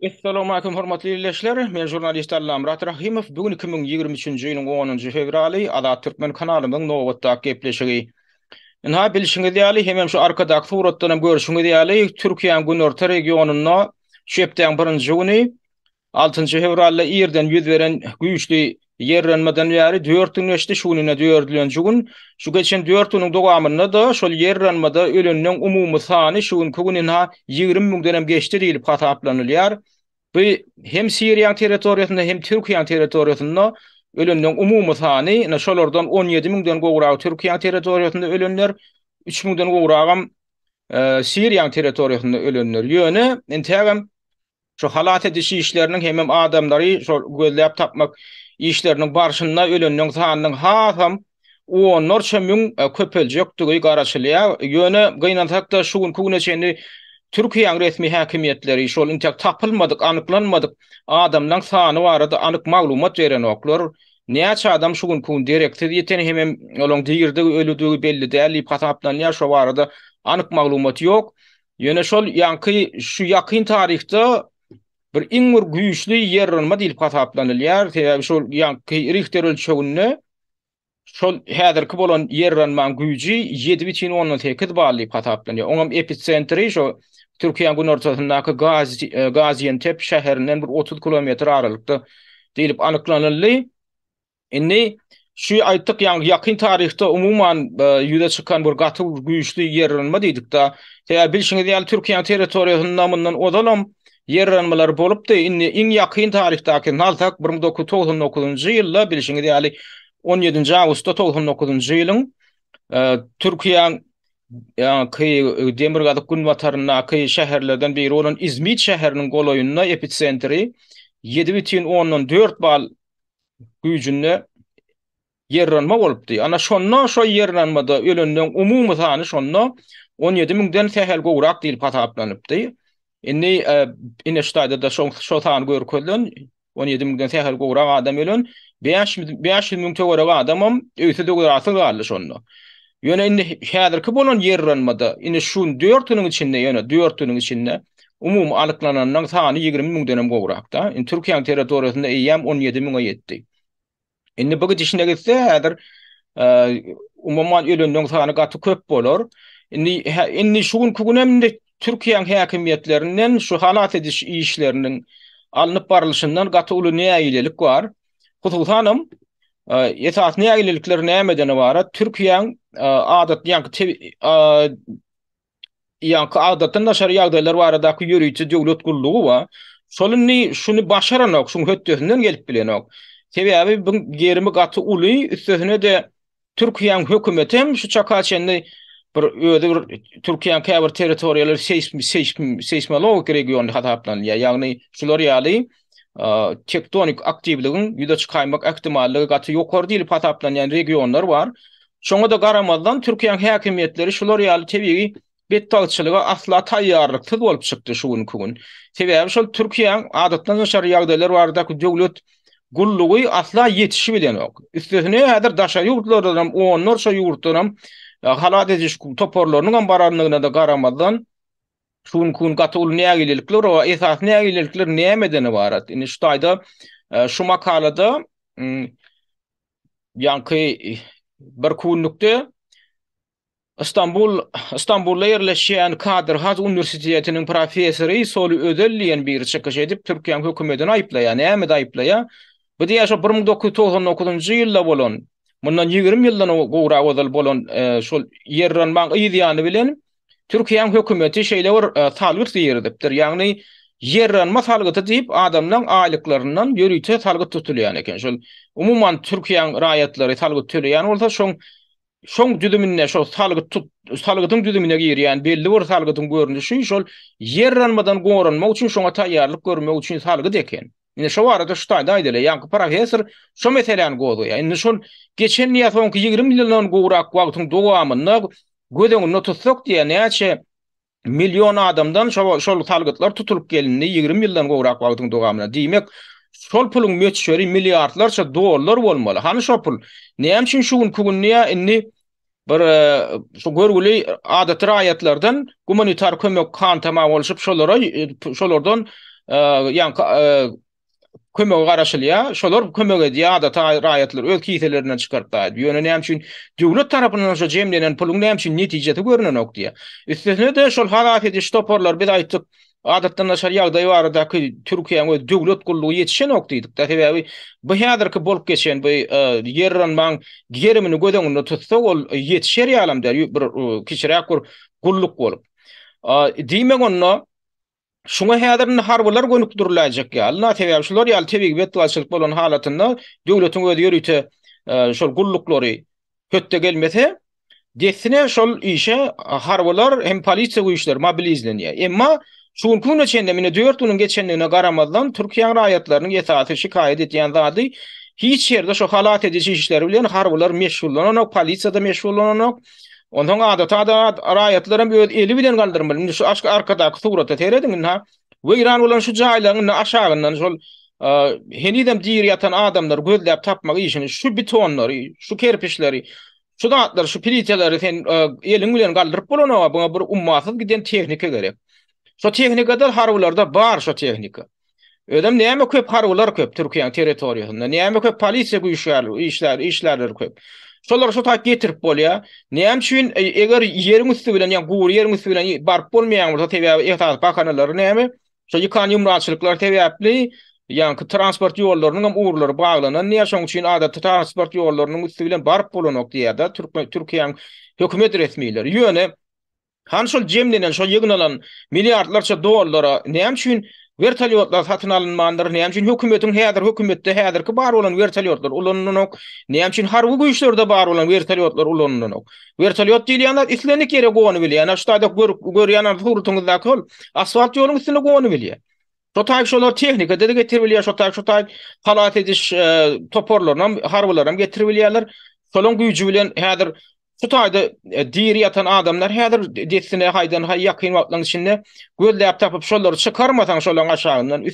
Essalamu aleýkum hormatly ildeşler! Men žurnalist Allamyrat Rahymow. Bu gün iki müň ýigrimi üçünji ýylyň onunjy fewraly, Azat Türkmen kanalymyň nobatdaky gepleşigi. Ynha, bilşiňiz ýaly, hemem şu arkadaky suratdan hem görşüňiz ýaly, Türkiýäň günorta regionynda şu hepdäň birinji güni, altynjy fewralda irden ýüz beren güýçli Ýerrenmeden bäri dört gün geçdi, şu gününe dördülenji gün. Şu geçen dört günüň dowamynda-da şol ýerrenmada öleniň umumy sany şu günki gün ynha ýigrimi müňden hem geçdi diýlip hasaplanylýar. Bu hem Siriýanyň territoriýasynda, hem Türkiýäniň territoriýasynda öleniň umumy sany, ynha şolardan on ýedi müňden gowragy Türkiýäniň territoriýasynda ölenler, üç müňden gowragam Siriýanyň territoriýasynda ölenler. Ýöne entägem Şu halas ediş işleriniň hemem adamlary şol gözläp tapmak işleriniň barşynda ölenleň sanynyň hasam onlarça müň köpeljekdigi garaşylýar. Ýöne gynansak-da şu günki güne çenli Türkiýäň resmi häkimiýetleri şol intäk tapylmadyk, anyklanmadyk adamlaň sany barada anyk maglumat berenoklar. Näçe adam şu günki gün dereksiz ýiten hemem olaň dirdigi, ölüdigi belli däl diýip hasaplanýar, şo barada anyk maglumat ýok. Ýöne şol ýaňky şu ýakyn taryhda bir iň bir güýçli ýerranma diýlip hasaplanylýar. Sebäbi şol ýaňky Rihter ölçeginde şol häzirki bolan ýerranmaň güýji 7,8 bal diýip hasaplanýar. Oňam episentri şo Türkiýäň günortasyndaky Gaziantep şäherinden bir 30 kilometr aralykda diýlip anyklanyldy. Indi şu aýtdyk ýaňky ýakyn taryhda umuman ýüze çykan bir gaty güýçli ýerrenme diýdikde, sebäbi bilşiňiz ýaly Türkiýäniň territoriýasynda mundan ozalam ýerrenmeler bolupdy, indi iň ýakyn taryhdaky nalsak bir müň dokuz ýüz togsan dokuzynjy ýylda bilşiňiz ýaly on ýedinji awgustda togsan dokuzynjy ýylyň Türkiýäň ýaňky demirgazyk günbataryndaky şäherlerden biri bolan Izmit şäheriniň golaýynda epitsentri ýedi bütin ondan dört bal güýjünde ýerranma bolupdy. Ana, şonda şo ýerranmada ölenleň umumy sany şonda on ýedi müňden sähel gowrak diýlip hasaplanypdy. Indi Inestayda-da şo san görkezilen, on ýedi müňden sähel gowrak adam ölen, bäş ýüz müň töweregi adamam öýsüz-öwzarasyz galdy şonda. Ýöne indi häzirki bolan ýerranmada, indi şu dörtüniň içinde, ýöne dörtüniň içinde umumy alyklananyň sany ýigrimi müňdenem gowrak-da. Indi Türkiýäniň territoriýasynda eýýäm on ýedi müňe ýetdi. Indi bu gidişine gitse, häzir umuman öleniň sany gaty köp bolar. Indi indi şu günki gün hem indi Türkiýäniň häkimiýetlerinden şu halas ediş işleriniň alnyp barylşyndan gaty uly nägilelik bar. Hususanam, esasy nägilelikler nämeden ybarat? Türkiýäň adatly ýaňky adatdan daşary ýagdaýlar baradaky ýörite döwlet gullugy bar. Şol indi şuny başaranok, şuň hötdesinden gelip bilenok. Sebäbi bu gerimi gaty uly, üstesine-de Türkiýäň hökümeti hem şu çaka çenli bir özi bir Türkiýäň käbir territoriýalary seýsmologik region hasaplanylýar. Ýagny şular ýaly tektonik aktiwligiň ýüze çykaýmak ähtimallygy gaty ýokary diýlip hasaplanýan regionlar bar. Şoňa-da garamazdan Türkiýäň häkimiýetleri şular ýaly tebigy Betbagtçylyga asla taýýarlyksyz bolup çykdy şu günki gün. Sebäbi şol Türkiýäň Adatdan daşary ýagdaýlar baradaky döwlet gullugy asla ýetişip bilenok. Üstesine häzir daşary ýurtlardan hem onlarça ýurtdan hem halas ediş toparlarynyň hem barandygyna-da garamazdan, şu günki gün gaty uly nägilelikler bar. Esasy nägilelikler nämeden ybarat? Indi şu taýda şu makalada ýaňky bir künlükde Stambul, Stambulda ýerleşýän Kadyr Has uniwersitetiniň professory Soli Özel diýen biri çykyş edip, Türkiýäň hökümetini aýyplaýar. Nämede aýyplaýar? Bu diýýär, şo bir müň dokuz ýüz togsan dokuzynjy ýylda bolan, mundan ýigrimi ýyldan gowrak ozal bolan şol ýerranmaň yz ýany bilen Türkiýäň hökümeti şeýle bir salgyt girizipdir. Ýagny ýerranma salgyty diýip adamlaň aýlyklaryndan ýörite salgyt tutulýan eken. Şol umuman Türkiýäň raýatlary salgyt töleýän bolsa, şoň Şoň düzüminde şo salgyt tut, salgydyň düzümine girýän belli bir salgydyň görnüşi şol ýerranmadan goranmak üçin şoňa taýýarlyk görmek üçin salgyt eken. Indi şo barada şu taýda aýdaly, ýaňky professor şo meseläni gozgaýar. Indi şol geçen ýa soňky ýigrimi ýyldan gowrak wagtyň dowamynda göz öňünde tutsak diýýär, näçe Million adamdan şo şol salgytlar tutulyp gelindi ýigrimi ýyldan gowrak wagtyň dogamynda. Diýmek, şol puluň möçberi milliardlarça dollar bolmaly. Hany şo pul? Näme üçin şu günki günde ýa indi bir şu görgüli adaty raýatlardan gumanitar kömek han-tamah bolşup şolara şolardan ýaňky kömege garaşylýar. Şolar kömek edýär, adaty raýatlar öz kiselerinden çykaryp daýyp. Ýöne näme üçin döwlet tarapyndan şo jemlenen puluň näme üçin netijesi görnenok diýýär. Üstesine-de şol halas ediş toparlary biz aýtdyk, adatdan daşary ýagdaý baradaky Türkiýäň öz döwlet gullugy ýetişenok diýdik-de, sebäbi bu häzirki bolup geçen bu ýerranmaň gerimini göz öňünde tutsak, ol ýetişer ýalam däl, bir kiçiräk bir gulluk bolup. Diýmek onda, Şuňa häzir indi harbylar gönükdiriläýjek ýaly-la, sebäbi şular ýaly tebigy betbagtçylyk bolan halatynda döwletiň özi ýörite şol gulluklary hötde gelmese, dessine şol işe harbylar hem polisiýa güýçleri mobilizlenýär. Emma şu günki güne çenli, ine dört günüň geçendigine garamazdan, Türkiýäň raýatlarynyň esasy şikaýat edýän zady, hiç ýerde şu halas ediji işleri bilen harbylar meşgullananok, polisiýa-da meşgullananok. Onsoň adatada raýatlaram öz eli bilen galdyrmaly. Indi şu aşk arkadaky surata serediň indi ha. Weýran bolan şu jaýlaryň indi aşagyndan şol henizem diri ýatan adamlary gözläp tapmak işini şu betonlary, şu kerpiçleri, şu zatlary, şu pliteleri sen eliň bilen galdyryp bolanok, buňa bir ummasyz giden tehnika gerek. Şu tehnikadan harbylarda bar şu tehnika. Özem näme köp harbylar köp Türkiýäň territoriýasynda, näme köp polisiýa güýçleri, işler, işlerler köp. Şolar şu taýt getirip bolýar. Näme üçin e, eger ýeriň üsti bilen, ýa gury ýeriň üsti bilen baryp bolmaýan bolsa, sebäbi esas bahanalary näme? Şo ýykan ýumraçylyklar sebäpli ýa-ki transport ýollarynyň hem ugurlary baglanan diýýär. Şoň üçin adaty transport ýollarynyň üsti bilen baryp bolanok diýýär-de Türkiýäň hökümet resmileri. Ýöne Hany şol jemlenen, şol ýygnalan milliardlarça dollara näme üçin wertolýotlar satyn alynmandyr, näme üçin hökümetiň häzir hökümetde häzirki bar bolan wertolýotlar ulanylanok, näme üçin harby güýçlerde bar bolan wertolýotlar ulanylanok. Wertolýot diýilýän zat islendik ýere gonybilýär, ýa-da şu taýda görýän suratyňyzdaky hol asfalt ýoluň üstünde gonybilýär. Şo taýy şolar tehnikada-da getiribilýär, şo taýy şo taýy halas ediş toparlaryny hem, harbylaram getiribilýärler. Şolaryň güýji bilen häzir Şu taýda diri ýatan adamlar häzir dessine haýdan haý ýakyn wagtlaryň içinde gözläp tapyp şolary çykarmasaň şolaryň aşagyndan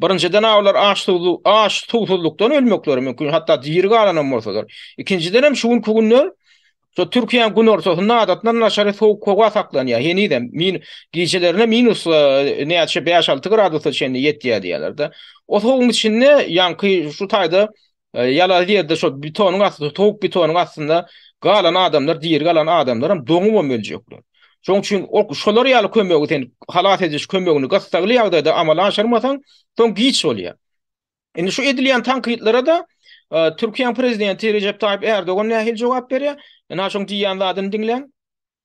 birinjiden olar aç suw aç suwsuzlykdan ölmekleri mümkin hatda diri galanam bolsalar ikinjiden hem şu günki günde Şu Türkiýäň günortasynda adatdan naçary sowuk howa saklanýar. Henizem min gijelerine minus e, näçe 5-6 gradusa çenli ýetýär diýýärler-de. O sowugyň içinde ýaňky şu taýda Ýalaýyz ýerde şo betonyň astynda, sowuk betonyň astynda galan adamlar, diri galan adamlaram doňubam öljekler. Şoň üçin ol şolar ýaly kömegi sen halas ediş kömegini gyssagly ýagdaýda amala aşyrmasaň, soň giç bolýar. Indi şu edilýän tankytlara-da Türkiýäň prezidenti Rejep Taýyp Ärdogan nähili jogap berýär? Ynha şoň diýýän zadyny diňläň.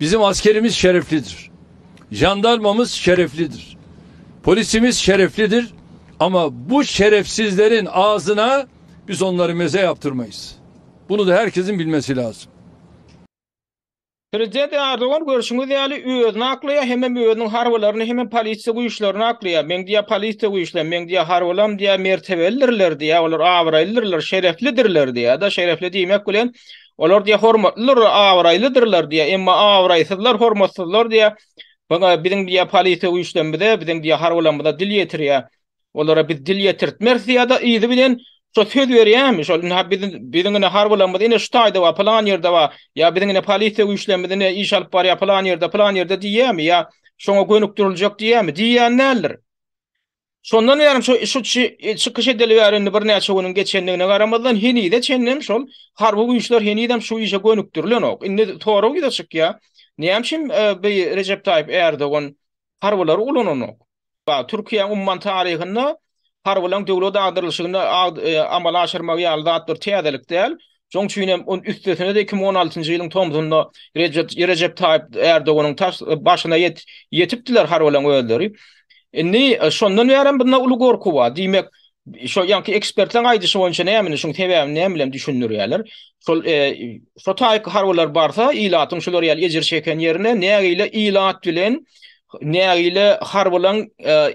Biziň askerimiz şereflidir. Jandarmamyz şereflidir. Polisimiz şereflidir. Amma bu şerefsizleriň agzyna biz onlary meze ýapdyrmaýys. Bunu-da her kesiň bilmesi lazym. Prezident Erdogan görşüňiz ýaly özüni aklaýar hemem özüniň harbylaryny hemem polisiýa güýçlerini aklaýar. Meň diýýär polisiýa güýçlem, meň diýýär harbylam diýýär mertebelidirler diýýär, olar abraýlydyrlar, şereflidirler diýýär-de, şerefli diýmek bilen Olar diýe hormatlydyr, abraýlydyrlar diýe, emma abraýsyzlar, hormatsyzlar diýe, bana biziň diýe polisiýa güýçlerimize, biziň diýe harbylarymyza dil ýetirýär. Olara biz dil ýetirtmeris diýýär de yzy bilen şo söz berýärmi, şol indi ha biz biziň indi harbylarymyz ine şu taýda bar, pylan ýerde bar, ýa biziň indi polisiýa güýçlerimiz indi iş alyp barýar pylan ýerde, pylan ýerde diýýärmi ýa şoňa gönükdiriljek diýýärmi, diýýän däldir. Şondan bäri şu şu çykyş edeli bäri indi birnäçe günüň geçendigine garamazdan henize çenlem şol harby güýçler henizem şu işe gönükdirilenok. Indi sorag ýüze çykýar. Näme üçin bi Rejep Taýyp Erdogan harbylary ulananok? Ba Türkiýäň umman taryhynda harbylaryň döwlet agdarylyşygyny amala aşyrmagy ýaly zat bir täzelik däl. Şoň üçin hem on üstesine-de iki müň on altynjy ýylyň tomzunda Rejep Rejep Taýyp Erdoganyň taş başyna ýetipdiler harbylaryň özleri. Indi şondan bäri hem bunda uly gorky bar. Diýmek, şo ýaňky ekspertleriň aýdyşy boýunça nämeni şuň sebäbini näme bilen düşündirýärler? Şol şo taýyk harbylar barsa ilatyň şular ýaly ejir çeken ýerine nägile ilat bilen nägile harbylaryň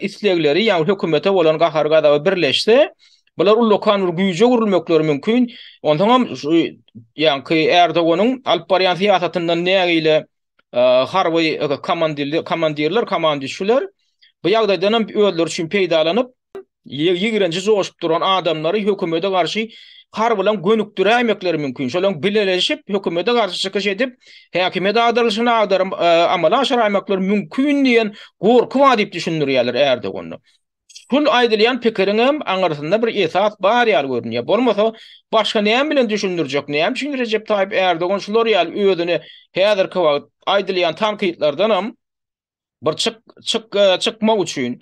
islegleri ýa hökümete bolan gahar-gazaby birleşse Bular ullakan bir güýje öwrülmekleri mümkin. Onsoň hem şu ýaňky Erdoganyň alyp barýan syýasatyndan nägile harby komandirler, komandirler, komandişler bu ýagdaýdan hem özleri üçin peýdalanyp, ýigrenji joşup duran adamlary hökümete garşy har bilen gönükdiräýmekleri mümkin. Şolaryň bileleşip, hökümete garşy çykyş edip, häkimiýet agdarylyşyny agdaryp, amala aşyraýmaklary mümkin diýen gorky bar diýip düşündirýärler Erdogany. Şul aýdylýan pikiriňem aňyrsynda bir esas bar ýaly görünýär. Bolmasa, başga näme bilen düşündirjek? Näme üçin Rejep Taýyp Ärdogan şular ýaly özüne häzirki wagt aýdylýan tankytlardanam bir çyk çyk çykmak üçin,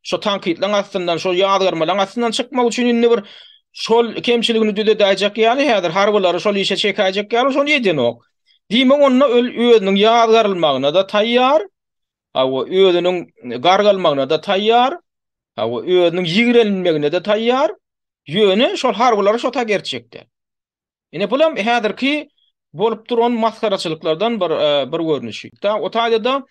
şo tankytlaryň astyndan, şo ýazgarmalaryň astyndan çykmak üçin indi bir şol kemçiligini düzedäýjek ýaly häzir harbylary şol işe çekäýjek ýaly şony edenok. Diýmek onda ol özüniň ýazgarylmagyna-da taýýar, Hawa, özüniň gargalmagyna-da taýýar, hawa, özüniň ýigrenilmegine-de taýýar, ýöne şol harbylary şota gertjekdi. Ine, bulam häzirki bolup duran masgaraçylyklardan bir, bir görnüşi. O taýda-da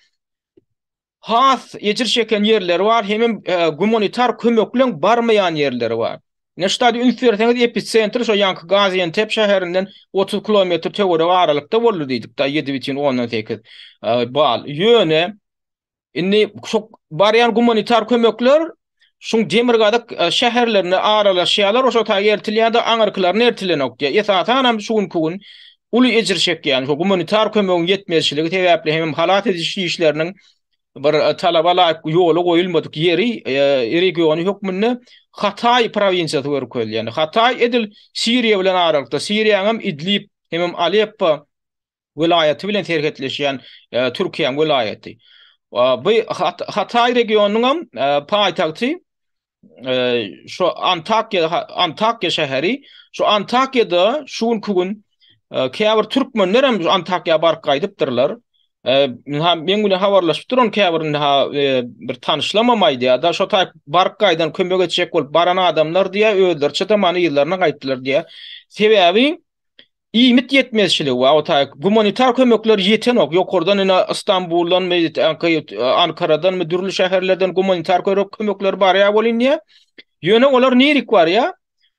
has ejir çeken ýerleri bar, hemem gumanitar kömekleň barmaýan ýerleri bar. Neştadi üns berseňiz episentri şo ýanky Gaziantep şäherinden otuz kilometr töweregi aralykda boldy diýdik da ýedi bitin ondan sekiz bal. Ýöne indi şo barýan gumanitar kömekler şuň demirgazyk şäherlerine aralaşýarlar oşa taýy eltilýärde aňyrkylaryna eltilenok diýýär. Esasanam şu günki gün uly ejir çekýän şo gumanitar kömegiň ýetmezçiligi sebäpli hemem halas ediş işleriniň bir talaba laýyk ýola goýulmadyk ýeri regiony hökmünde Hataý prowinsiýasy görkezilýär. Ýani Hataý edil Siriýa bilen aralykda, Siriýanyň hem Idlib hemem Aleppo welaýaty bilen serhetleşýän Türkiýäň welaýaty. Bu Hataý regionynyň hem paýtagty şu Antakya Antakya şäheri şu Antakyýada şu günki gün käbir türkmenler hem Antakya baryp gaýdypdyrlar. Minha men bilen habarlaşyp duran käbirinde ha bir tanyşlamam aýdýar da şo taýp baryp gaýdan kömek etjek bolup baran adamlar diýä özleriçe de many ýerlerine gaýtdylar diýä. Sebäbi Iýmit ýetmezçiligi we otag gumanitar kömekler ýetenok, ýokardan ine Istanbuldan we Ankaradanmy dürli şäherlerden gumanitar körek kömekleri barýar welin diýýär. Ýöne olar nirik barýar?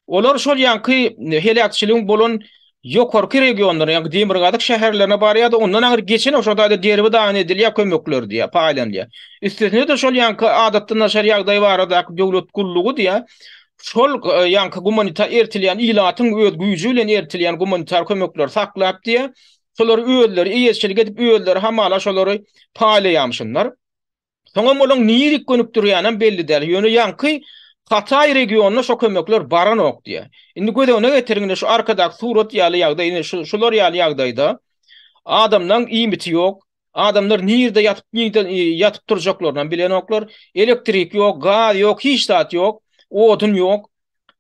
Olar şol ýanky heläkçiligiň bolan ýokarky regionlara, ýanky demirgazyk şäherlerine barýar-da, ondan aňyr geçenok, şol taýda derbi dagyn edilýär kömekler diýýär, paýlanylýar. Üstesine-de şol ýanky adatdan daşary ýagdaý baradaky döwlet gullugy diýýär, şol ýanky gumanitar eltilýän ilatyň öz güýji bilen eltilýän gumanitar kömekleri saklap diýýär, şolary özleri eýeçilik edip, özleri hamala şolary paýlaýamyşynlar. Soňam olaň nirik gönükdirýänem belli däl, ýöne ýanky Hataý regionyna şo kömekler baranok diýýär. Indi göz öňüne getiriň, indi şu arkadaky surat ýaly ýagdaý, indi şular ýaly ýagdaýda adamlaň iýmiti ýok, Adamlar nirde ýatyp nirden ýatyp turjaklaryny bilenoklar. Elektrik ýok, gaz ýok, hiç zat ýok, odun ýok.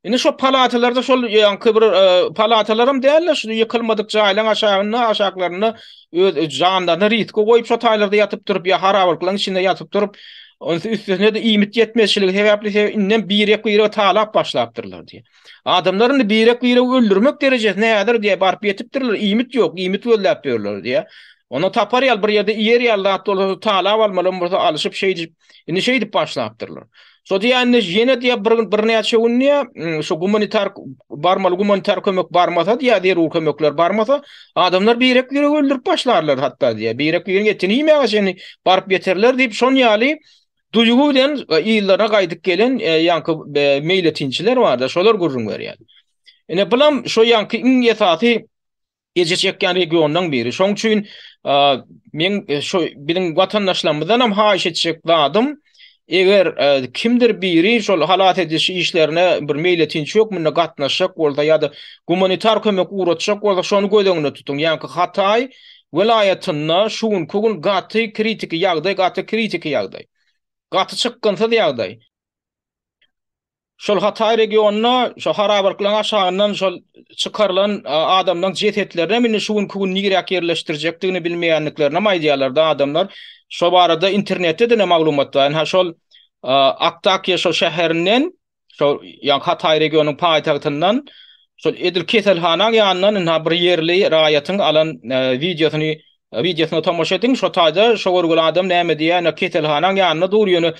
Indi şo palatalarda şol ýaňky bir e, palatalaram däl-de, şu ýykylmadyk jaýlaryň aşagynda, aşaklarynda öz janlaryny riske goýup şo taýlarda ýatyp turup, ýa harabalyklaryň içinde ýatyp turup, üstesine-de iýmit ýetmezçiligi sebäpli inden birek-birege talap başlapdyrlar diýip. Adamlar indi birek-biregi öldürmek derejesine häzir diýýär, baryp ýetipdirler, iýmit ýok, iýmit gözläp ýörler diýýär. Onda tapar ýaly, bir ýerde iýer ýaly zat bolsa, talap almalam bolsa, alyşyp şeý diýip, indi şeý diýip başlapdyrlar. Şo diýýär, indi ýene diýýär, bir gün, birnäçe gün diýýär, şu gumanitar barmaly, gumanitar kömek barmasa diýýär, zerur kömekler barmasa, adamlar birek-biregi öldürip başlarlar hatda diýýär, birek-bireniň etini iýmäge çenli baryp ýeterler diýip, şon ýaly Duýgy bilen ýyllara gaýdyp gelen ýaňky meýletinçiler bar-da, şolar gürrüň berýär. Ine, bulam şo ýaňky iň esasy ejir çekýän regionlaryň biri. Şoň üçin men şo biziň watandaşlarymyzdan hem haýyş etjek zadym, eger kimdir biri şol halas ediş işlerine bir meýletinçi hökmünde gatnaşjak bolsa ýa-da gumanitar kömek ugratjak bolsa, şony göz öňünde tutuň. Ýaňky Hataý welaýatynda şu günki gün gaty kritiki ýagdaý, gaty kritiki ýagdaý, gaty çykgynsyz ýagdaý. Şol Hataý regionynda şo harabalyklaryň aşagyndan şol çykarylan adamlaryň jesetlerinem indi şu günki gün niräk ýerleşdirjekdigini bilmeýänliklerinem aýdýarlar-da adamlar. Şo barada internetde-de ine maglumat bar. Ynha şol Aktakýa şo şäherinden şol ýa Hataý regionyň paýtagtyndan şol edil keselhana ýanyndan ynha bir ýerli raýatyň alan e, wideosyny wideosyna tomaşa ediň, şo taýda şo görgüli adam näme diýýär, ýöne keselhanaň ýanynda dur, ýöne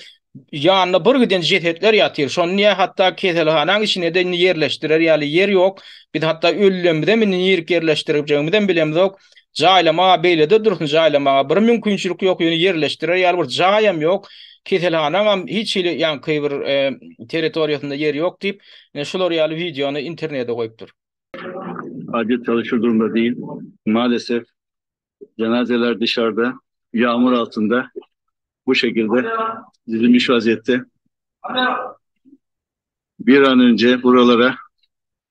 ýanynda bir giden jesetler ýatyr. Şony niýe hatda keselhanaň içine de indi ýerleşdirer ýaly ýer ýok. Biz hatda öllemizem indi nirek ýerleşdirjegimizi hem bilemizok. Jaýlamaga beýlede dursun jaýlamaga bir mümkinçilik ýok ýöne ýerleşdirer ýaly bir jaýam ýok. Keselhanaňam hiç hili ýaňky bir territoriýasynda ýeri ýok diýip şular ýaly wideony internede goýupdyr. Adyýet ýaly şu durumda diýil. Malesef jenazeler dyşarda ýagmyr altynda bu şekilde düzülmiş waziýetde. Bir an önje buralara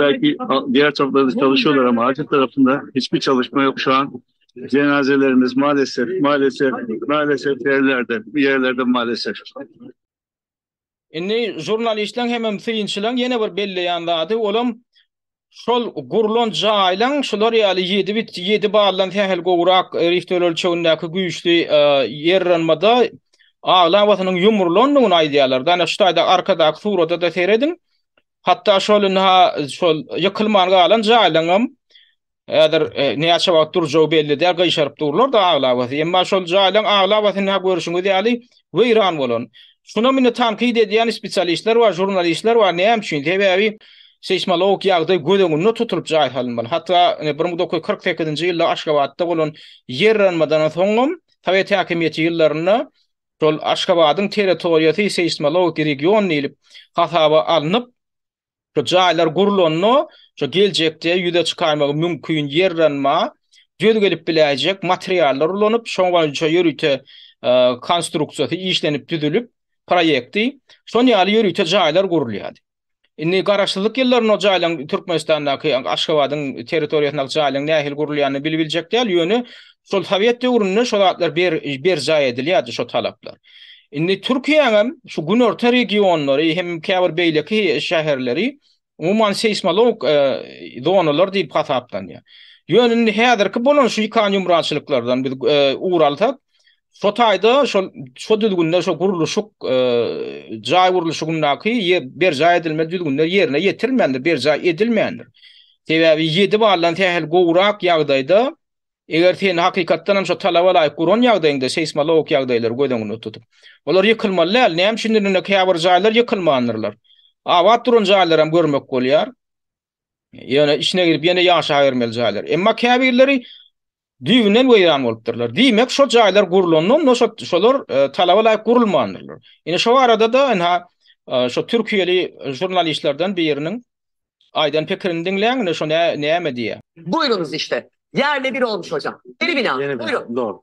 Belki diğer taraflarda çalışıyorlar ama Acil tarafında hiçbir çalışma yok şu an. Cenazelerimiz maalesef, maalesef, maalesef yerlerde, bir yerlerde maalesef. Indi jurnalistleň hemem synçylaň ýene bir belleýän zady olam şol gurlan jaýlaň şular ýaly ýedi bit ýedi baldan sähel gowrak riht ölçegindäki güýçli ýerranmada aglabasynyň ýumrulandygyny aýdýarlar. Dana şu taýda arkadaky surada-da serediň. Hatda şol indi-ha şol ýykylman galan jaýlaryňam häzir näçe wagt durjagy belli däl, gyşaryp durlar-da aglabasy. Emma şol jaýlaryň aglabasy indi-ha görşüňiz ýaly weýran bolan. Şunam indi tankyt edýän spesialistler bar, žurnalistler bar. Näme üçin? Sebäbi seýsmologik ýagdaý göz öňünde tutulyp jaý salynmaly. Hatda bir müň dokuz ýüz kyrk sekizinji ýylda Aşgabatda bolan ýerranmadan soňam sowet häkimiýeti ýyllarynda şol Aşgabadyň territoriýasy seýsmologiki region diýlip hasaba alnyp, şu jaýlar gurlanda, şu geljekde ýüze çykarmagy mümkin ýerranma döz gelip biläýjek materiallar ulanyp, şo boýunça ýörite konstruksiýasy işlenip düzülip, proýekti, şon ýaly ýörite jaýlar gurulýardy. Indi garaşsyzlyk ýyllarynda jaýlaryň Türkmenistandaky, Aşgabadyň territoriýasyndaky jaýlaryň nähili gurulýanyny bili biljek däl, ýöne şol sowet döwründe şo zatlar berjaý edilýärdi şo talaplar. Indi Türkiýäňem şu günorta regionlary hem käbir beýleki şäherleri umuman seýsmolog zonalar diýip hasaplanýar. Ýöne indi häzirki bolan şu ýykan ýumrançylyklardan biz ugur alsak, Şo taýda şol şo düzgünler şo gurluşyk e, jaý gurluşygyndaky berjaý edilmeli düzgünler ýerine ýetirilmändir, berjaý edilmändir. Sebäbi 7 baldan sähel gowrak ýagdaýda eger sen hakykatdan hem şo talaba laýyk guran ýagdaýyňda seýsmologik ýagdaýlary göz öňünde tutup, olar ýykylmaly däl. Näme üçin indi käbir jaýlar ýykylmandyrlar. Abat duran jaýlar hem görmek bolýar. Ýöne içine girip ýene ýaşaýermeli jaýlar. Emma käbirleri düýbünden weýran bolupdyrlar. Diýmek, şo jaýlar gurlandan da şolar e, talaba laýyk gurulmandyrlar. Ine şo arada da ene e, şo türkiýeli žurnalistlerden biriniň aýdan pikirini diňläň, ine şo näme diýýär. Buyurunuz işte. Yerli bir olmuş hocam. Yeni bina. Yeni bina. Buyurun. Doğru.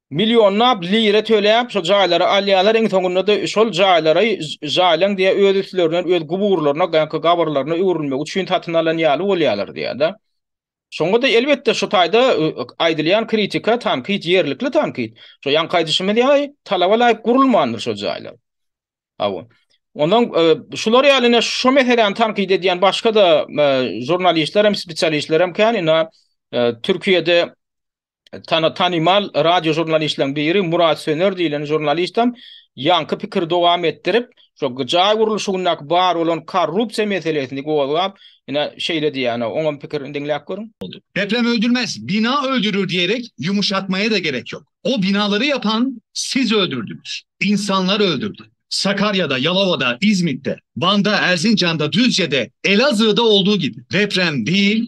Millionlap lira töläp şo jaýlary alýalar iň soňunda-da şol jaýlary jaýlaň diýýär öz üstlerinden öz guburlaryna gaýky gabyrlaryna öwrülmegi üçin satyn alan ýaly bolýalar diýýärda. Şoňada elbetde şu taýda aýdylýan kritika tankyt ýerlikli tankyt. Şo ýaňky aýdyşymyz ýaly talaba laýyk gurulmandyr şo jaýlar. Hawa. Ondan şular ýaly ine şo meseläni tankyt edýän başga-da žurnalistler hem spesialistler hem kän ina Türkiýede tana tanymal radio žurnalistleriň biri Murat Söner diýlen žurnalistem ýaňky pikiri dowam etdirip, şo jaý gurluşygyndaky bar bolan korrupsiýa meselesini gozgap, ine, şeýle diýýär, ana, oňam pikirini diňläp görüň. Deprem öldürmez, bina öldürir diýerek ýumuşatmaýa-da gerek ýok. O binalary ýapan siz öldürdiňiz. Ynsanlar öldürdi. Sakarýada, Ýalawada, Izmitde, Wanda, Erzinjanda, Düzjede, Elazığda olduğu gibi deprem diýil,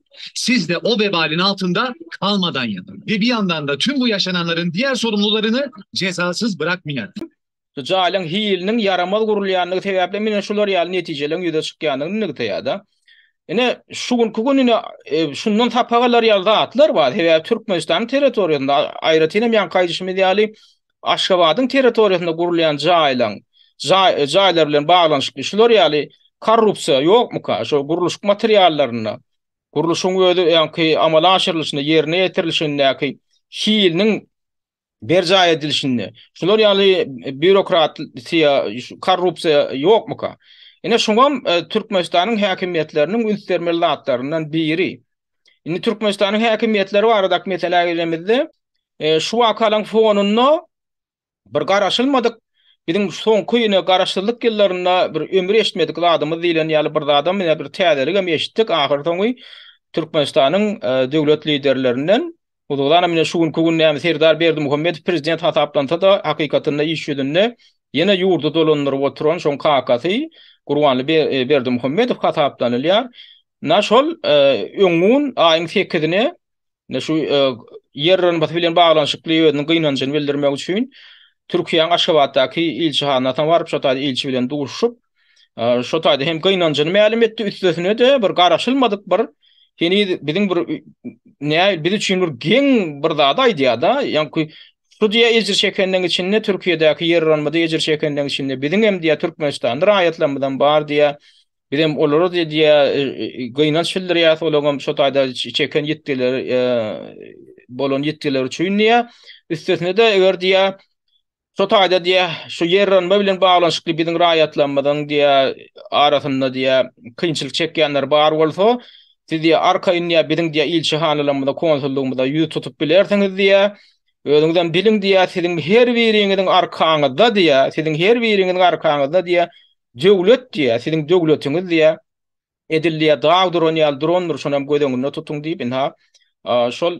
Sizde o vebalin altynda kalmadan ýatyň. Ve bir ýandanda tüm bu ýaşananlaryň diýär sorumlylaryny jezasız bırakmyar. Şu jaýlaryň hiliniň ýaramaz gurulýandygy sebäpli ine şular ýaly netijeleriň ýüze çykýandygyny nygtaýarda. Ine şu günki gün ine şundan sapak alar ýaly zatlar bar. Sebäbi Türkmenistanyň territoriýasynda aýratyn hem ýanky aýdyşymyz ýaly Aşgabadyň territoriýasynda gurulýan jaýlaň jaýlar bilen baglanyşykly şular ýaly korrupsiýa ýokmyka, şol gurluşyk materiallarynda, gurluşygyň özi öňki amala aşyrylyşynda, ýerine ýetirilişindäki hiliniň berjaý edilişinde şular ýaly býurokratiýa, korrupsiýa ýokmyka? Ine şuňam Türkmenistanyň häkimiýetleriniň üns bermeli zatlaryndan biri. Indi Türkmenistanyň häkimiýetleri baradaky meselä geljemizde, şu wakalaryň fonunda bir garaşylmadyk, biziň soňky ýene garaşsyzlyk ýyllarynda bir ömür eşitmedik zadymyz diýlen ýaly bir zadam ýa bir täzeligem eşitdik, ahyrsoňy Türkmenistanyň döwlet liderlerinden Huzurana mine şu günki gün näme Serdar Berdimuhamedow prezident hasaplansa-da, hakykatynda iş ýüzünde ýene ýurdy dolandyryp oturan şoň kakasy Gurbanly Berdimuhamedow hasaplanylýar. Na şol öň gün aýyň sekizine na şu ýer rynbasy bilen baglanyşykly özüniň gynanjyny bildirmek üçin Türkiýäň Aşgabatdaky ilçihanasyna baryp şo taýda ilçi bilen duşup, Şo taýda hem gynanjyny mälim etdi, üstesine-de bir garaşylmadyk bir heniz biziň bir nä biz üçin bir geň bir zady aýdýar-da, ýaňky şu diýe ejir çekenleň içinde Türkiýedäki ýerranmada ejir çekenleň içinde biziň hem diýe türkmenistanly raýatlarymyz hem bar diýe, biz hem olara diýe gynanç bildirýäs, olaň hem şo taýda çeken ýitgileri bolan ýitgileri üçin diýe, üstesine-de eger diýe Şo taýda diýä, şu ýerrenme bilen baglanyşykly biziň raýatlarymyzyň diýä arasynda diýä kynçylyk çekýänler bar bolsa, siz diýä arkaýyn diýä biziň diýä ilçihanalarymyza, konsullygymyza ýüz tutup bilersiňiz diýä. Özüňizem biliň diýä, siziň her biriňiziň arkaňyzda diýä, siziň her biriňiziň arkaňyzda diýä döwlet diýä, siziň döwletiňiz diýä. Edil diýýär, dag duran ýaly durandyr, şonam göz öňünde tutuň diýip, ynha, şol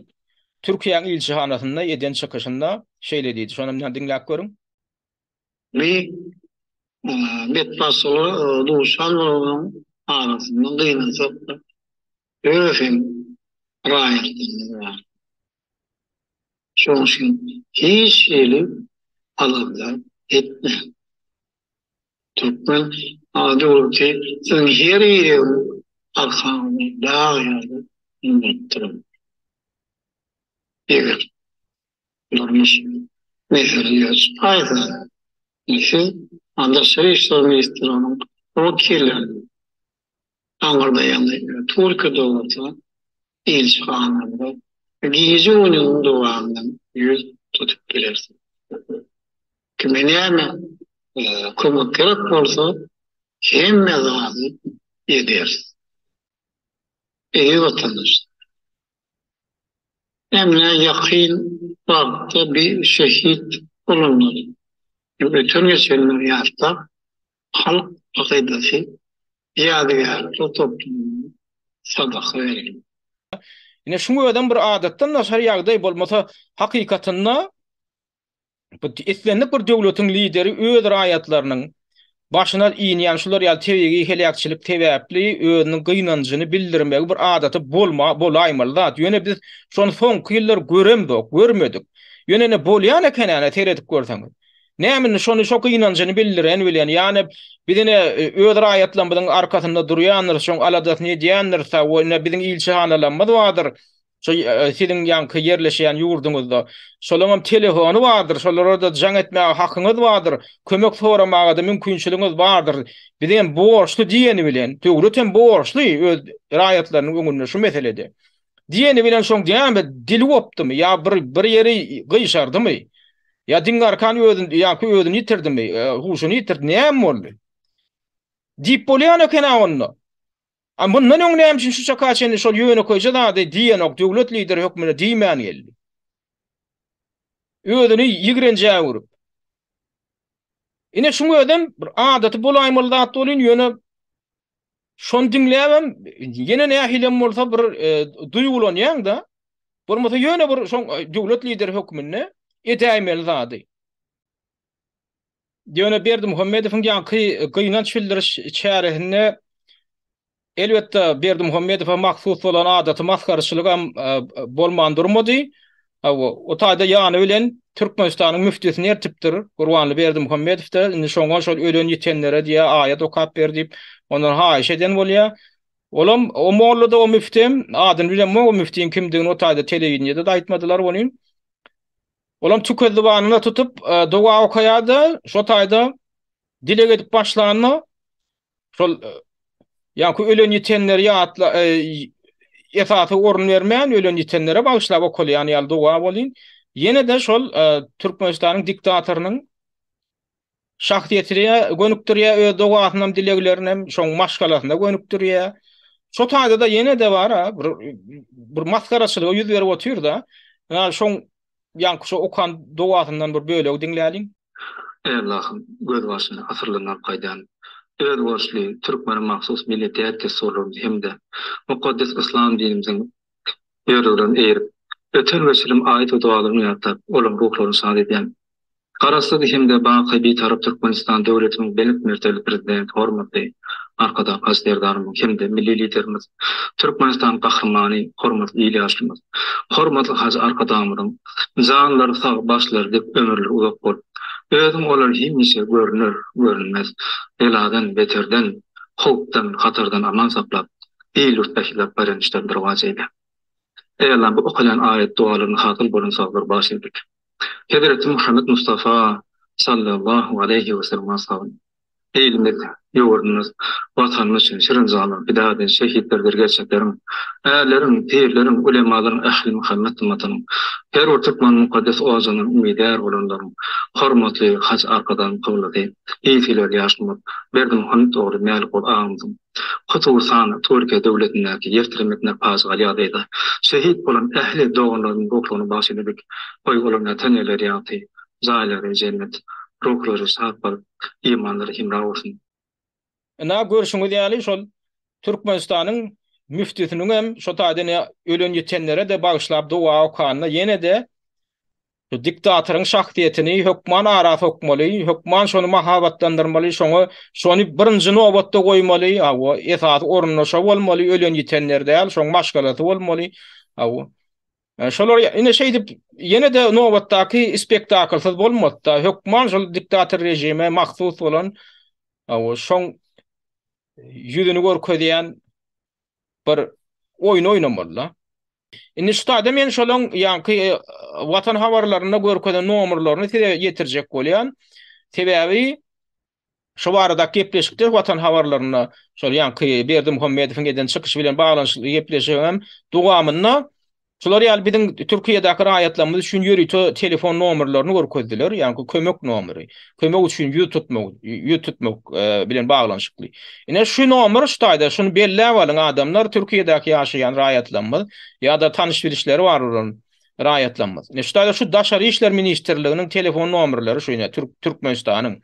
Türkiýäň ilçihanasynda eden çykyşynda şeýle diýdi. Şonam ynha diňläp görüň. Bi betbagtçylyga duşandygyň arasynda gynansak-da, özem raýatlarymyz bar. Şonuň üçin hiç hili alamda etmäň. Türkmen ady bolup ki, siziň her ýeriňiz arkaňyzda dag ýaly gymmatdyr. Eger durmuş mesele ýaşaýsa, siz daşary işler ministrliginiň wekilleriniň aňyrda ýaňy Türkiýe döwleti ilçihanasynda gije we gündiziň dowamynda ýüz tutup bilersiň. Kime näme kömek gerek bolsa, hemme zady ederis. Eziz watandaşlar! Emma ýakyn wagtda bir şehit bolanlar, öten-geçenleri ýatlap, Halk akydasy ýadygärlikler toplumyna sadaka berildi. Ine, şuň özem bir adatdan daşary ýagdaý bolmasa, hakykatynda bu islendik bir döwletiň lideri öz raýatlarynyň başyna inýän şular ýaly tebigy heläkçilik sebäpli özüniň gynanjyny bildirmegi bir adaty bolma bolaýmaly zat. Ýöne biz şony soňky ýyllar göremzok, görmedik. Ýöne ine bolýan eken-ä, ine seredip görseňiz. Näme indi şony şo gynanjyny bildiren welin ýany biz ine öz raýatlarymyzyň arkasynda durýandyr şoň aladasyny edýändir sa we ine biziň ilçihanalarymyz bardyr şo siziň ýaňky ýerleşýän ýurduňyzda şolaryňam telefony bardyr şolara-da jaň etmäge hakyňyz bardyr kömek soramaga-da mümkinçiligiňiz bardyr biz hem borçly diýeni bilen döwlet hem borçly öz raýatlarynyň öňünde şu meselede. Diýeni bilen şoň näme dil gopdumy ýa bir bir ýeri gyşardymy? Ýa diňe arkan özün ýa-ki özüni ýitirdimi? E, huşuny ýitirdi, näme boldy? Diýip bolýan eken-ä onda. A mundan öň näme üçin şu çaka çenli şol ýönekeýje zady diýenok, döwlet lideri hökmünde diýmän geldi? Özüni ýigrenjä öwrüp. Ine şuň özem bir adaty bolaýmaly zat bolýan, ýöne Şony diňläbem ýene nähilem bolsa bir e, duýgulanýaň-da. Bolmasa ýöne bir şoň e, döwlet lideri hökmünde edäýmeli zady. Ýöne Berdi Muhammedowyň ýaňky e, gynanç bildiriş çäresinde elbetde Berdi Muhammedowa mahsus bolan adaty masgarçylygam e, bolman durmady. Hawa, o taýda ýany bilen Türkmenistanyň müftisini eltipdir. Gurbanly Berdimuhamedow-da indi şoňa şol ölen-ýitenlere diýýä, aýat okap ber diýip, ondan haýyş eden bolýa. Olam, o molla-da, o müftem, adyny bilemok o müftiň kimdigini o taýda telewideniýede-de aýtmadylar welin, olam tükezzybanyna tutup, doga okaýa-da, şo taýda dileg edip başlanda, Şol ýa-ki ölen-ýitenleri ýatla, esasy orun bermän, ölen-ýitenlere bagyşlap okalýan ýaly doga bolýyn. Ýene-de şol Türkmenistanyň diktatorynyň şahsyýetine gönükdirýär öz dogasyny hem, dileglerini hem, şoň maşgalasyna gönükdirýär. Şo taýda-da ýene-de bar-a, bir masgaraçylygy ýüz berip otyr-da, ýa şoň Ýaňky şu okan dowasyndan bir bölegi diňläliň. Eý Allahym, gözbaşyny asyrlaryň alyp gaýdan özboluşly türkmene mahsus milli däp-dessurlarymyzy hem-de mukaddes yslam dinimiziň ýörelgelerini eýerip, öten we çilim aýat we dogalaryňy ýatlap, olaryň ruhlaryny şat edýän Garaşsyz hem-de baky Bitarap Türkmenistan döwletimiň belent mertebeli Prezidenti, hormatly Arkadag Baş Serdarymyz hem-de Milli Liderimiz, Türkmenistanyň Gahrymany, hormatly il ýaşymyz, hormatly Hajy Arkadagymyzyň janlary sag, başlary dik, ömürleri uzak bolup, özüň olar hemişe görner, görünmez beladan, beterden, howpdan, hatardan aman saklap, il-ýurt ählilap baýramçylarynda rowaç eýle! Eýýäm bu okaýan aýat-dogalarynda hasyl bolan sazlar baş egdik. Hezreti Muhammet Mustafa sallallahu aleýhi we sellem ashaby, Ilimiz, ýurdumyz, Watanymyz üçin şirin jana pida eden şehitlerdir gerçekleriň, ärleriň, pirleriň, ulemalaryň, ähli Muhammet ymmatynyň, her bir türkmeniň mukaddes ojagynyň umydýar bolanlaryň, hormatly Haj Arkadagymyzyň Kyblasy, Ilsuwlar Ýaşulmaz Berdimuhamet ogly Mälikguly agamyzyň, hususan, Türkiýe döwletindäki ýer tiremesinde pajygaly ýagdaýda şehit bolan ähli doganlaryň ruhlaryna bagyş edilip, goý, olaryň ýatan ýerleri ýagty, jaýlary jennet, ruhlary şat bolup, imanlary hemra bolsun! Ynha, görşüňiz ýaly, şol Türkmenistanyň müftüsiniň hem şo taýdan ölen-ýitenlere-de bagyşlap doga okanda ýene-de, Şu diktatoryň şahsyýetini hökman ara sokmaly, hökman şony mahabatlandyrmaly, şoňa şony birinji nobatda goýmaly, hawa, esasy orunda şo bolmaly, ölen-ýitenler däl, şoň maşgalasy bolmaly, hawa. Şolar ine şeýdip, ýene-de nobatdaky spektaklsyz bolmaz-da, hökman şol diktator režime mahsus bolan, hawa, şoň ýüzüni görkezýän bir oýun oýnamaly-da. Indi şu taýda men şolaň ýaňky Watan habarlarynda görkezen nomerlerini size ýetirjek bolýan. Sebäbi şu barada gepleşikde Watan habarlarynda şol ýaňky Berdimuhamedowyň eden çykyşy bilen baglanyşykly gepleşigem dowamynda Şular ýaly biziň Türkiýedäki raýatlarymyz üçin ýörite telefon nomerlerini görkezdiler, ýagny kömek nomeri, kömek üçin ýüz tutmak, ýüz tutmak bilen baglanyşykly. Ine şu nomer şu taýda, şuny belläp alyň adamlar, Türkiýedäki ýaşaýan raýatlarymyz ýa-da tanyş-bilişleri bar bolan raýatlarymyz. Ine şu taýda şu Daşary işler ministrliginiň telefon nomerleri şu ine Türkmenistanyň.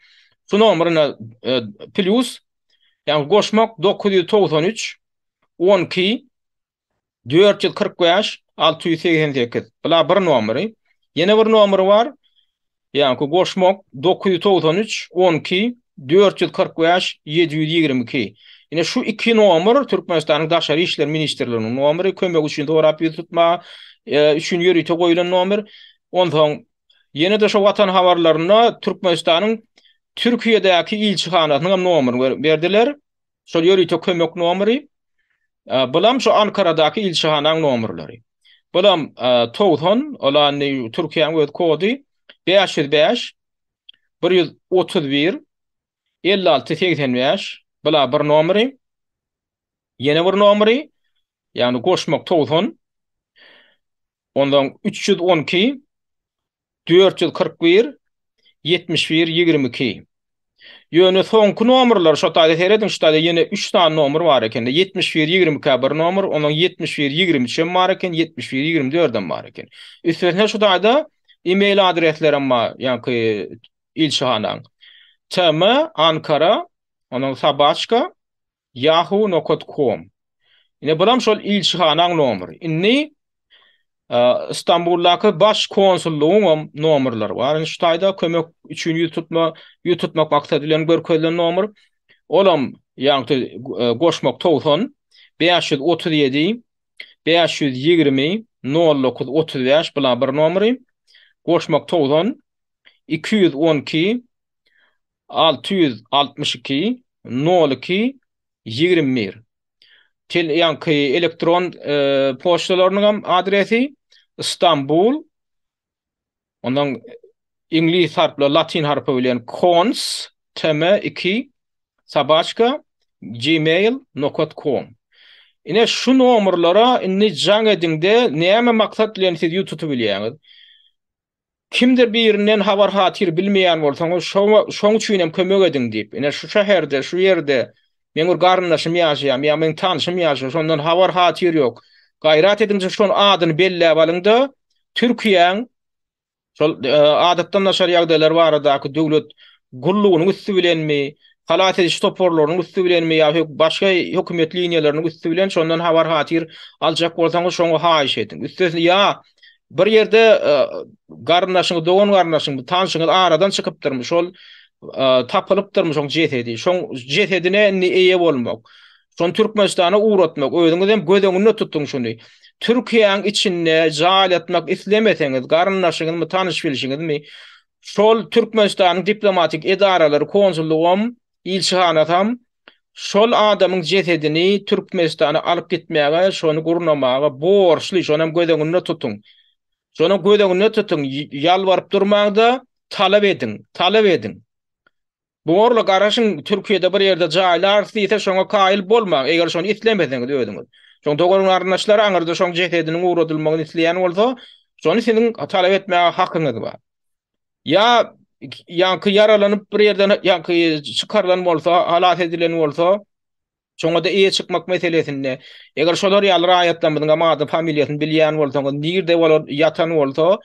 Şu nomer ine plýus, ýagny goşmak, dokuz ýüz togsan üç, on iki, Dört ýüz kyrk bäş, alty ýüz segsen sekiz. Bular bir nomeri. Ýene bir nomeri bar. Ýaňky goşmak dokuz ýüz togsan üç, on iki, dört ýüz kyrk bäş, ýedi ýüz ýigrimi iki. Ine şu iki nomer Türkmenistanyň Daşary işler ministrliginiň nomeri, kömek üçin sorap ýüz tutma üçin ýörite goýlan nomer. Onsoň ýene-de şu Watan habarlarynda Türkmenistanyň Türkiýedäki ilçihanasynyň hem nomerini berdiler. Şol ýörite kömek nomery, bulam şu Ankaradaky ilçihanaň nomerleri. Bulam togsan, ola indi Türkiýäň öz kody, bäş ýüz bäş, bir ýüz otuz bir, elli alty, segsen bäş, bula bir nomery, ýene bir nomery, ýagny goşmak togsan, onsoň üç ýüz on iki, Dört ýüz kyrk bir, ýetmiş bir, ýigrimi iki. Ýöne soňky nomerler, şo taýda serediň, şu taýda ýene üç sany nomer bar eken-de, ýetmiş bir, ýigrimi iki-ä bir nomer, onsoň ýetmiş bir, ýigrimi üç hem bar eken, ýetmiş bir, ýigrimi dördem bar eken. Üstesine şu taýda e-mail adreslerem bar, ýaňky ilçihanaň. TM, Ankara, onsoň Sobaçka, Yahoo nokat kom. Ine buram şol ilçihanaň nomry. Indi Istanbuldaky baş konsullygyňam nomrlary bar. Indi şu taýda kömek üçin ýüz tutma, ýüz tutmak maksady bilen görkezilen nomr. Olam ýagty goşmak 90 537 520 0935 bula bir nomry. Goşmak 90 212 Alty ýüz altmyş iki, nol iki, ýigrimi bir Tel ýaňky elektron poçtalarynyňam adresi, Stambul, ondan iňlis harpla latyn harpy bilen cons, tm iki, sobaçka, gmail, nokat, com. Ine, şu nomerlere indi jaň ediň-de, näme maksat bilen siz ýüz tutubilýäňiz. Kimdir birinden habar-hatyr bilmeýän bolsaňyz, şoň üçinem kömek ediň diýip, ine, şu şäherde, şu ýerde meň bir garyndaşym ýaşaýar, ýa meň tanşym ýaşaýar, şondan habar-hatyr ýok. Gaýrat ediňiz-de, şonuň adyny belläp alyň-da, Türkiýäň şol Adatdan daşary ýagdaýlar baradaky döwlet gullugynyň üsti bilenmi, halas ediş toparlarynyň üsti bilenmi ýa başga hökümet liniýalarynyň üsti bilen şondan habar-hatyr aljak bolsaňyz, şoňa haýyş ediň. Üstesine, ýa. bir ýerde e, garyndaşyňyz, dogan garyndaşyňyz, tanşyňyz aradan çykypdyrmy? Şol e, tapylypdyrmy şoň jesedi? Şoň jesedine indi eýe bolmak. Şon Türkmenistana uğratmak, özüňiz hem göz öňünde tutuň şuny. Türkiýäň içinde jaý etmek islemeseňiz, garyndaşyňyzmy, tanyş bilişiňizmi, şol Türkmenistanyň diplomatik edaralary, konsullugy hem Ilçihanasam şol adamyň jesedini Türkmenistana alyp gitmäge, şony gurnamaga borçly, şonam göz öňünde tutuň. Şonam göz öňünde tutuň, ýalbaryp durmaň-da, talap ediň, talap ediň. Borla garaşyň, Türkiýede bir ýerde jaýlarys diýse, şoňa kaýyl bolmaň, eger şony islemeseňiz özüňiz. Şoň dogan-garyndaşlar aňyrda şoň jesediniň ugradylmagyny isleýän bolsa, şony siziň talap etmäge hakyňyz bar. Ýa ýaňky ýaralanyp bir ýerden ýaňky çykarylan bolsa, halas edilen bolsa, şoňa-da eýe çykmak meselesinde, eger şolar ýaly raýatlarymyzyň hem ady, familiýasyny bilýän bolsaňyz, nirde olar ýatan bolsa,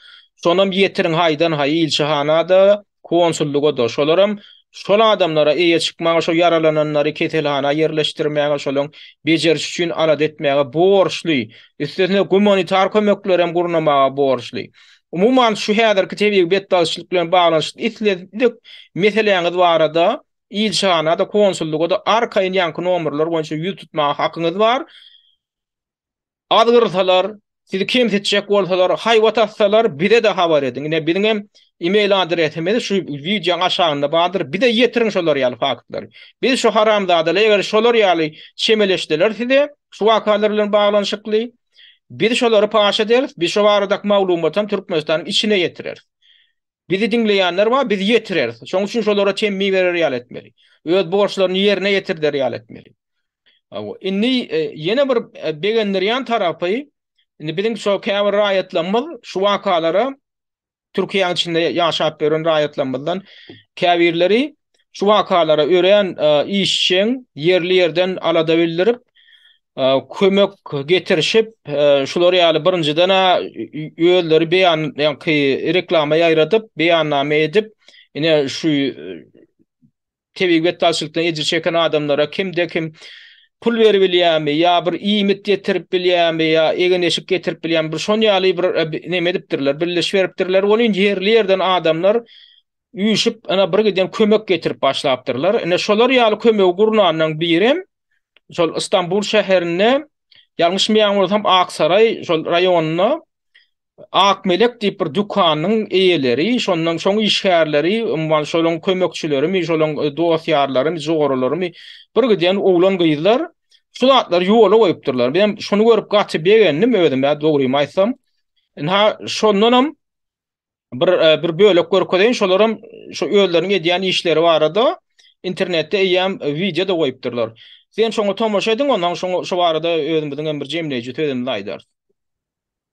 şonam ýetiriň haýdan-haý ilçihana-da, konsullyga-da. Şolaram şol adamlara eýe çykmaga, şo ýaralananlary keselhana ýerleşdirmäge, şolaň bejerişi üçin alada etmäge borçly. Üstesine gumanitar kömeklerem gurnamaga borçly. Umuman, şu häzirki tebigy betbagtçylyk bilen baglanyşykly islendik meseläňiz barada ilçihana-da, konsullyga-da arkaýyn ýaňky nomerler boýunça ýüz tutmaga hakyňyz bar. Azgyrsalar, sizi kemsitjek bolsalar, haýbat atsalar, bize-de habar ediň. Ine, biziň hem e-mail adresimiz şu wideoň aşagynda bardyr. Bize ýetiriň şolar ýaly faktlary. Biz şu haramzadaly, eger şolar ýaly çemeleşseler size şu wakalar bilen baglanyşykly, Biz şolary paş ederis, biz şo baradaky maglumaty hem Türkmenistanyň içine ýetireris. Bizi diňleýänler bar, biz ýetireris. Şonuň üçin şolara temmi berer ýaly etmeli. Öz borçlaryny ýerine ýetirder ýaly etmeli. Awa, indi e, ýene bir e, begendirýän tarapy, indi biziň şo käbir raýatlarymyz şu wakalara Türkiýäň içinde ýaşap ýören raýatlarymyzdan käbirleri şu wakalara örän e, işçiň ýerli ýerden alada bildirip, e, kömek getirişip, e, şular ýaly birinjiden özleri beýan ýaňky reklama ýaýradyp, beýannama edip, ine şu Tebigy betbagtçylykdan ejir çeken adamlara kimde-kim pul berip bilýärmi ýa bir iýmit getirip bilýärmi ýa egin-eşik getirip bilýärmi, bir şon ýaly bir neme edipdirler, birleşip beripdirler. Ol inji ýerli ýerden adamlar üýşüp, ene bir giden kömek getirip başlapdyrlar. Ene şolar ýaly kömegi gurnanlaň birem şol Istanbul şäherinde, ýalňyşmaýan bolsam Aksaraý şol raýonynda Akmelek diýip bir dükanyň eýeleri, şondan şoň işgärleri, umuman şolaryň kömekçilerimi, şolaryň dost-ýarlarymy, joralarymy bir giden oglan-gyzlar şu zatlary ýola goýupdyrlar. Men şuny görüp gaty begendim özüm-ä dogrymy aýtsam. Ynha, şondanam bir bir bölek görkezeýin, şolaram şu özleriniň edýän işleri barada internetde eýýäm wideo-da goýupdyrlar. Siz hem şoňa tomaşa ediň, onsoň şoňa şu barada özümiziň hem bir jemleýji sözümizi aýdarys.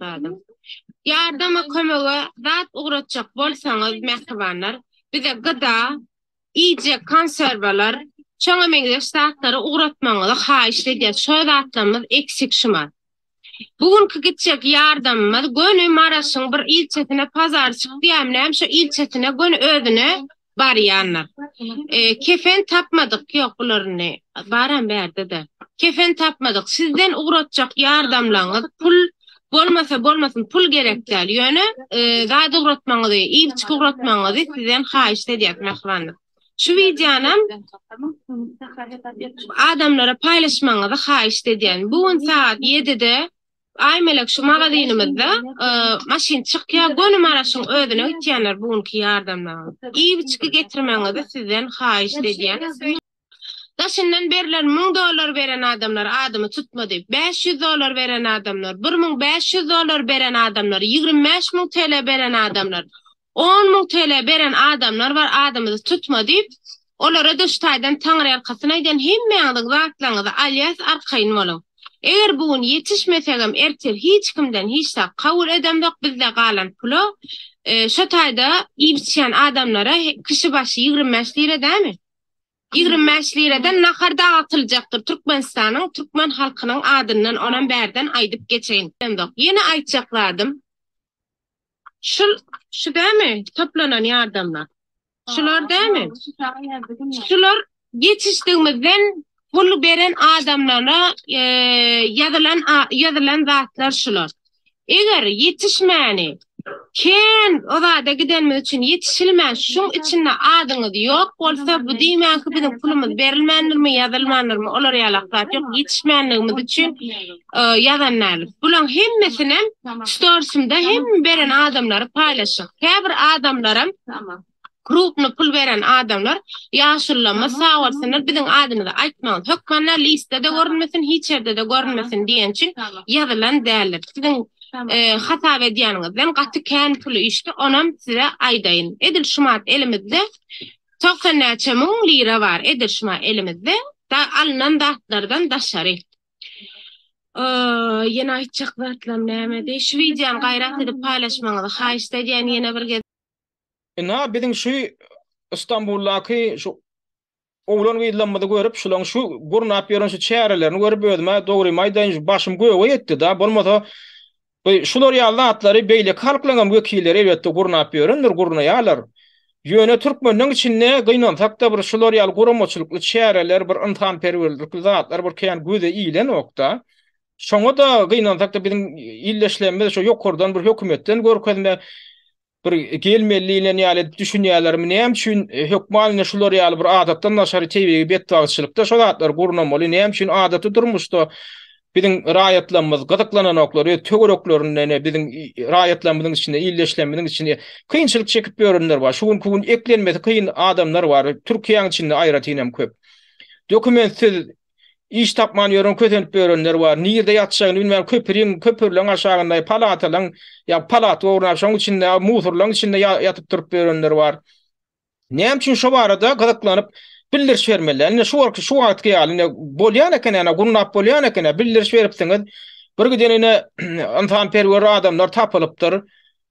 Ýardama kömege zat ugratjak bolsaňyz mähribanlar bize gyda, iýjek konserwalar, şoňa meňzeş zatlary ugratmagyňyzy haýyşt edýäs, şo zatlarymyz eksik şumat. Bu günki gitjek ýardamymyz göni Maraşyň bir ilçesine pazar çykýam näm şo ilçesine göni özüne barýandyr. Kefen tapmadyk ýok bularyny baram bärdede. Kefen tapmadyk sizden ugratjak ýardamlaňyz pul bolmasa bolmasyn pul gerek däl ýöne zat ugratmaňyzy ýigiçik ugratmaňyzy sizden haýyşt edýäs mähribanlar. Şu wideonam adamlara paýlaşmagyňyzy haýyşt edýän. Bu gün sagat 7-de Aýmelek şu magazynymyzda maşyn çykýa, göni Maraşyň özüne gitýänler bu günki ýardamlaň. Iýgiçki getirmegiňizi sizden haýyşt edýän. Daşyndan berler müň dollar beren adamlar adymy tutmady. Bäş ýüz dollar beren adamlar, bir müň bäş ýüz dollar beren adamlar, ýigrimi bäş müň TL beren adamlar, On müň TL beren adamlar bar adymyzy tutma diýip olara daş taýdan taňryýalkasyn aýdýan hemmäňiziň zatlaňyzy alýas arkaýyn boluň eger bu gün ýetişmesegem ertir hiç kimden hiç zat kabul edemzok bizde galan pula şo taýda iýip içýän adamlara kişi başy ýigrimi bäş lira dämi ýigrimi bäş liradan nahar dagtyljakdyr türkmenistanyň türkmen halkynyň adyndan onam bärden aýdyp geçeýin ýene aýtjak zadym. Şul şu dämi toplanan ýardamlar. Şular dämi? Şular ýetişdigimizden pul beren adamlara ýazylan ýazylan zatlar şular. Eger ýetişmäni kän uzada gidenimiz üçin ýetişilmän şuň içinde adyňyz ýok bolsa bu diýmänki biziň pulumyz berilmändirmi ýazylmandyrmy olar ýalak zat ýok ýetişmänligimiz üçin ýazan däl. Bulaň hemmesinem storsymda hem beren adamlary paýlaşyk. Käbir adamlaram krupny pul beren adamlar ýaşullama sag bolsunlar biziň adymyzy aýtmaň. Hökmanda listede görünmesin hiç ýerde-de görünmesin diýen üçin ýazylan däldir. Siziň hasap edýäniňizden gaty kän pul işdi onam size aýdaýyn. Edil şumat elimizde togsan näçe müň lira bar edil şuma elimizde da alnan zatlardan daşary. Ýene aýtjak zatlam nämedi? Şu wideony gaýrat edip paýlaşmagyňyzy haýyşt edýän ýene bir gezek. Ina biziň şu Istanbuldaky şu oglan gyzlamyzy görüp şulaň şu gurnap ýören şu çärelerini görüp özüme dogrymy aýdaýyn şu başym göge ýetdi da bolmasa We şular ýaly zatlary beýleki halklaryň hem wekilleri elbetde gurnap ýörendir, gurnaýarlar. Ýöne türkmenleň içinde gynansakda bir şular ýaly guramaçylykly çäreler, bir ynsanperwerlikli zatlar bir kän göze ilenokda. Şoňa-da gynansakda biziň ildeşlerimiz şu ýokardan bir hökümetden görkezme bir gelmeli diýlen ýaly edip düşünýärlermi, näme üçin e, hökman indi şular ýaly bir adatdan daşary tebigy betbagtçylykda şu zatlar gurnamaly, näme üçin adaty durmuşda biziň raýatlarymyz gyzyklananoklar, öz töwereklerinden, biziň raýatlarymyzyň içinde, ildeşlerimiziň içinde kynçylyk çekip ýörenler bar. Şu günki gün eklenmesi kyn adamlar bar. Türkiýäň içinde aýratyn hem köp. Dokumentsiz Iş tapman ýören kösenip ýörenler bar. Nirde ýatjagyny bilmän köpüriň, köpürleň aşagynda, palatalaň, ýa palat borna şoň içinde, musurlaň içinde ýatyp turup ýörenler bar. Näme üçin şo barada gyzyklanyp bildiriş bermeliler. Ine şu wagtky şu wagtky ýaly ine bolýan eken ene gurnap bolýan eken bildiriş beripsiňiz. Bir giden ene ynsanperwer adamlar tapylypdyr.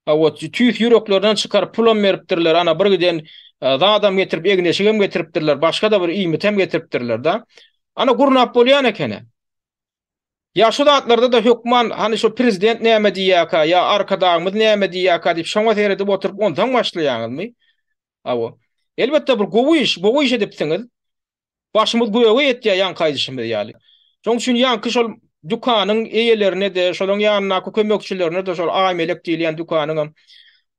Hawa, tüýs ýüreklerinden çykaryp pulam beripdirler, ana bir giden zadam getirip, egin-eşigem getiripdirler, başga-da bir iýmitem getiripdirler-de. Ana gurnap bolýan eken-ä. Ýa şu zatlarda-da hökman, hany şu prezident näme diýýärkä, ýa Arkadagymyz näme diýýärkä diýip şoňa seredip oturyp onsaň başlaýaňyzmy? Hawa. Elbetde bir gowy iş, gowy iş edipsiňiz. Başymyz göge ýetýär ýaňky aýdyşymyz ýaly. Şonuň üçin ýaňky şol dükanyň eýelerine-de, şolaryň ýanyndaky kömekçilerine-de, şol Aýmelek diýilýän dükanyňam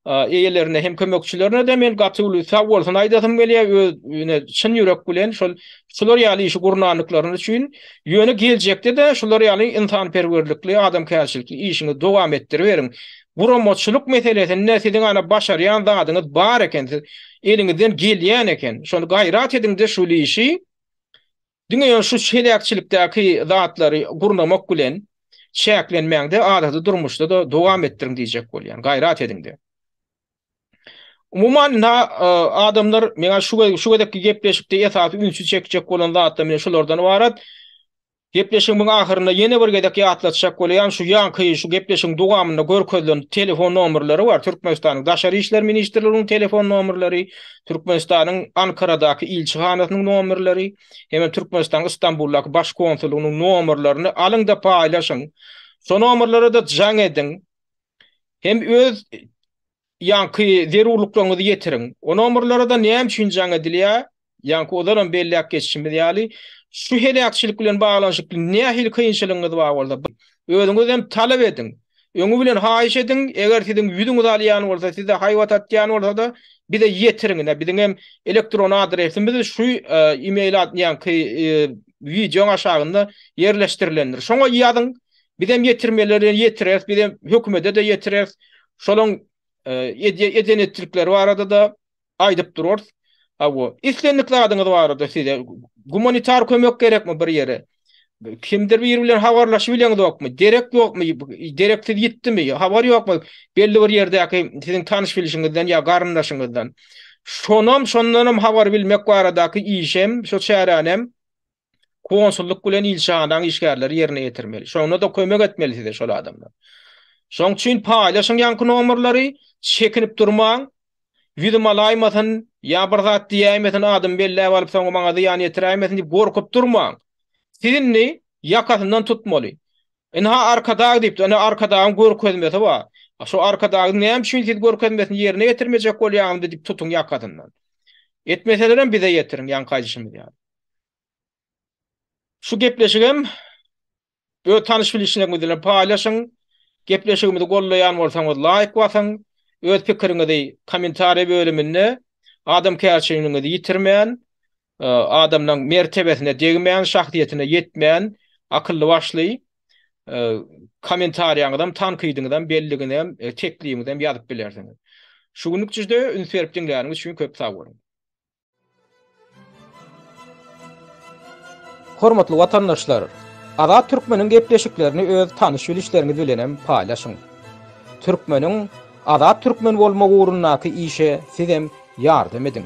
eýelerine hem kömekçilerine-de men gaty uly sagbolsun aýdasym gelýär, öz ýöne çyn ýürek bilen şol şular ýaly işi gurnandyklaryny üçin, ýöne geljekde-de şular ýaly ynsanperwerlikli, adamkärçilikli işiňizi dowam etdiriberiň. Guramaçylyk meselesinde siziň ana başarýan zadyňyz bar eken, siz eliňizden gelýän eken, şony gaýrat ediňde şul işi diňe ýöne şu heläkçilikdäki zatlary gurnamak bilen çäklenmäňde adaty durmuşda-da dowam etdiriň diýjek bolýan, gaýrat ediňde. Umuman indi adamlar meňä şu gezekki gepleşikde esasy ünsi çekjek bolan zatlar mine şulardan ybarat. Gepleşigimiň ahyrynda ýene bir gezek ýatlatjak bolýan şu ýaňky şu gepleşigiň dogamynda görkezilen telefon nomerleri bar, Türkmenistanyň Daşary işler ministrliginiň telefon nomerleri, Türkmenistanyň Ankaradaky ilçihanasynyň nomerleri hemem Türkmenistanyň Istanbuldaky baş konsullygynyň nomerlerini alyňda paýlaşyň. Şo nomerlerede jaň ediň. Hem öz Ýaňky zerurlyklaryňyzy ýetiriň. O nomerlere-de näme üçin jaň edilýär? Ýaňky ozalem belläp geçişimiz ýaly, şu heläkçilik bilen baglanyşykly nähili kynçylygyňyz bar bolsa, özüňiz hem talap ediň. Öňi bilen haýyş ediň, eger siziň ýüzüňiz alýan bolsa, size haýbat atýan bolsa-da, bize ýetiriň. Ine, biziň hem elektron adresimiz şu e-mail ad, ýaňky e, wideoň aşagynda ýerleşdirilendir. Şoňa ýazyň. Bizem ýetirmeleri ýetireris, bizem hökümede-de ýetireris. Şolaň eden etdikleri barada-da aýdyp durarys. Hawa, islendik zadyňyz barada size gumanitar kömek gerekmi bir ýere? Kimdir biri bilen habarlaşyp bileňizokmy? Derek ýokmy? Dereksiz ýitdimi? Habar ýokmy? Belli bir ýerdäki siziň tanyş bilişiňizden ýa garyndaşyňyzdan. Şonam, şondanam habar bilmek baradaky işem, şo çäränem konsullyk bilen ilçihanaň işgärleri ýerine ýetirmeli. Şonda-da kömek etmeli size şol adamlar. Şoň üçin paýlaşyň ýaňky nomerleri, çekinip durmaň. Ýüzüm alaýmasyn, ýa bir zat diýäýmesin, adymy belläp alyp, soňra maňa zyýan ýetiräýmesin diýip gorkup durmaň. Siz indi ýakasyndan tutmaly. Ynha Arkadag diýipdir, ine Arkadagyň görkezmesi bar. Şu Arkadagyň näme üçin siz görkezmesini ýerine ýetirmejek bolýaňyzmy diýip tutuň ýakasyndan. Etmeselerem bize ýetiriň ýaňky aýdyşymyz ýaly. Şu gepleşigem öz tanyş bilişleriňiz bilen paýlaşyň. Gepleşigimizi gollaýan bolsaňyz laýk basyň. Öz pikiriňizi kommentariýa bölüminde adamkärçiligiňizi ýitirmän, adamlaň mertebesine degmän, şahsyýetine ýetmän, akylly başly kommentariýaňyzam, tankydyňyzam, belligiňizem, teklibiňizem ýazyp bilersiňiz. Şu günlük jüjde üns berip diňläniňiz üçin köp sag boluň. Hormatly watandaşlar! Azat Türkmeniň gepleşiklerini öz tanyş-bilişleriňiz bilenem paýlaşyň. Türkmeniň Azat Türkmen bolmagy ugrundaky işe sizem ýardam ediň!